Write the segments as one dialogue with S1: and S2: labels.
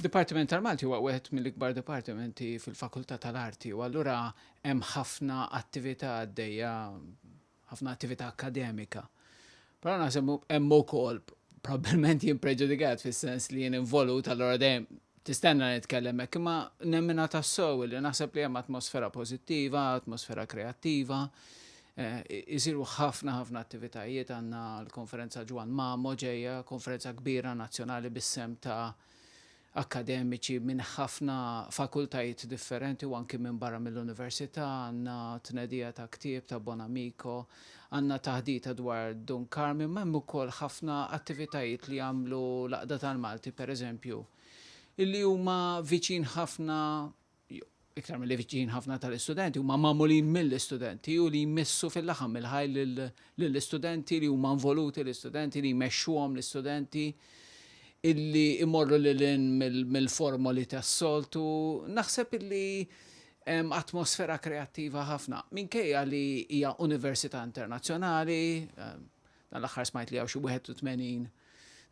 S1: Dipartiment tal-Malti huwa wieħed mill-ikbar dipartimenti fil-Fakultà tal-Arti u allura hemm ħafna attività għaddejja, ħafna attività akkademika. Però naħseb hemm ukoll probabbilment jien preġudikat fis-sens li jien involut allura dejjem tistenna nitkellem hekk, imma nemmina tassew li naħseb li hemm atmosfera pożittiva, atmosfera kreattiva, Isiru ħafna ħafna attivitajiet, għandna l-Konferenza Ġwann Mamo ġejja, konferenza kbira nazzjonali bis-sehem ta' akkademiċi minn ħafna fakultajiet differenti u anki minn barra mill-Università, għandna tnedija ta' ktieb ta' Bonamico, għandna taħdita dwar Dun Karmien, ma' hemm ukoll ħafna attivitajiet li jagħmlu l-Għaqda tal-Malti, pereżempju, li huma viċin ħafna iktar milli viċin ħafna tal-istudenti, huma magħmulin mill-istudenti u li jmissu fil-laħam il-ħaj lill-istudenti li huma involuti l-istudenti li jmexxuhom l-istudenti illi imorru lil mill-formoli tas-soltu. Naħseb illi atmosfera kreattiva ħafna. Minkejja li hija università internazzjonali, Dan l-aħħar smajt li hawn xi 81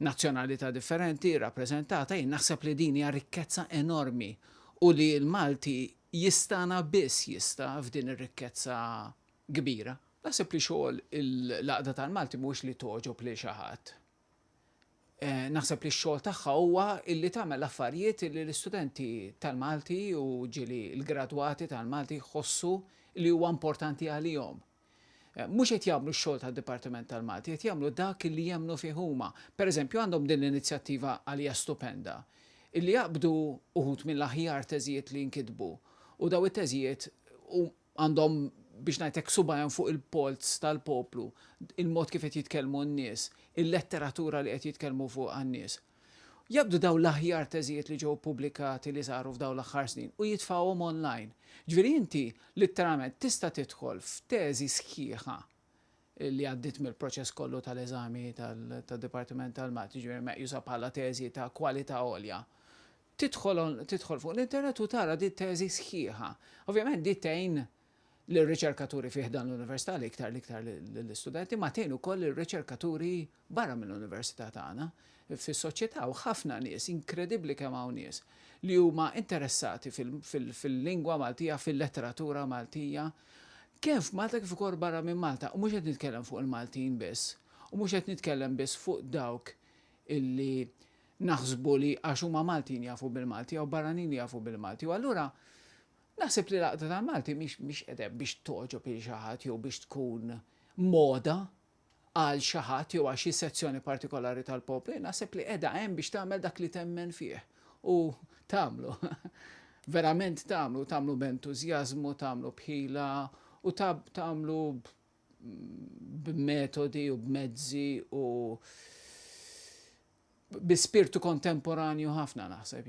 S1: nazzjonalità differenti rrappreżentata, jien naħseb li din hija rikkezza enormi u li l-Malti jistana biss jista' f'din ir-rikkezza kbira. Naħseb li xogħol l-Għaqda tal-Malti mhuwiex li togħġob lil xi ħadd. Eh, naħseb li x-xogħol tagħha huwa illi tagħmel affarijiet li l-istudenti tal-Malti u ġili l-gradwati tal-Malti jħossu li huwa importanti għalihom. Mhux qed jagħmlu x-xogħol tad-Dipartiment tal-Malti, qed jagħmlu dak li jemmnu fih huma. Pereżempju għandhom din l-inizjattiva għalija stupenda, illi jaqbdu uħud mill-aħjar teżijiet li nkitbu u daw it-teżijiet għandhom biex ngħid hekk subajhom fuq il-polz tal-poplu, il-mod kif qed jitkellmu n-nies, il-letteratura li qed jitkellmu fuqha n-nies. Jaqbdu dawn l-aħjar teżijiet li ġew ppubblikati li saru f'dawn l-aħħar snin u jitfgħuhom online. Ġifieri inti litteralment tista' tidħol f'teżi sħiħa li għaddiet mill-proċess kollu tal-eżami tad-Dipartiment tal-Mat, jiġifieri meqjusa bħala teżi ta' kwalità għolja. Tidħol tidħol fuq l-internet u tara din it-teżi sħiħa. Ovvjament din tgħin lir-riċerkaturi fi ħdan l-Università l-iktar l-iktar lill-istudenti, ma tgħin ukoll lir-riċerkaturi barra mill-Università tagħna. Fis-soċjetà hawn ħafna nies, inkredibbli kemm hawn nies, li huma interessati fil-lingwa Maltija, fil-letteratura Maltija, kemm f'Malta kif ukoll barra minn Malta. U mhux qed nitkellem fuq il-Maltin biss, u mhux qed nitkellem biss fuq dawk illi naħsbu li għax huma Maltin jafu bil-Malti jew barranin jafu bil-Malti. U allura Naħseb li l-Għaqda tal-Malti mhix mhix qiegħda hemm biex togħġob lil xi ħadd jew biex tkun moda għal xi ħadd jew għal xi sezzjoni partikolari tal-poplu, naħseb li qiegħda hemm biex tagħmel dak li temmen fih u tagħmlu, verament tagħmlu, tagħmlu b'entużjażmu, tagħmlu b'ħila u tagħmlu b'metodi u b'mezzi u bi spirtu kontemporanju ħafna naħseb jien.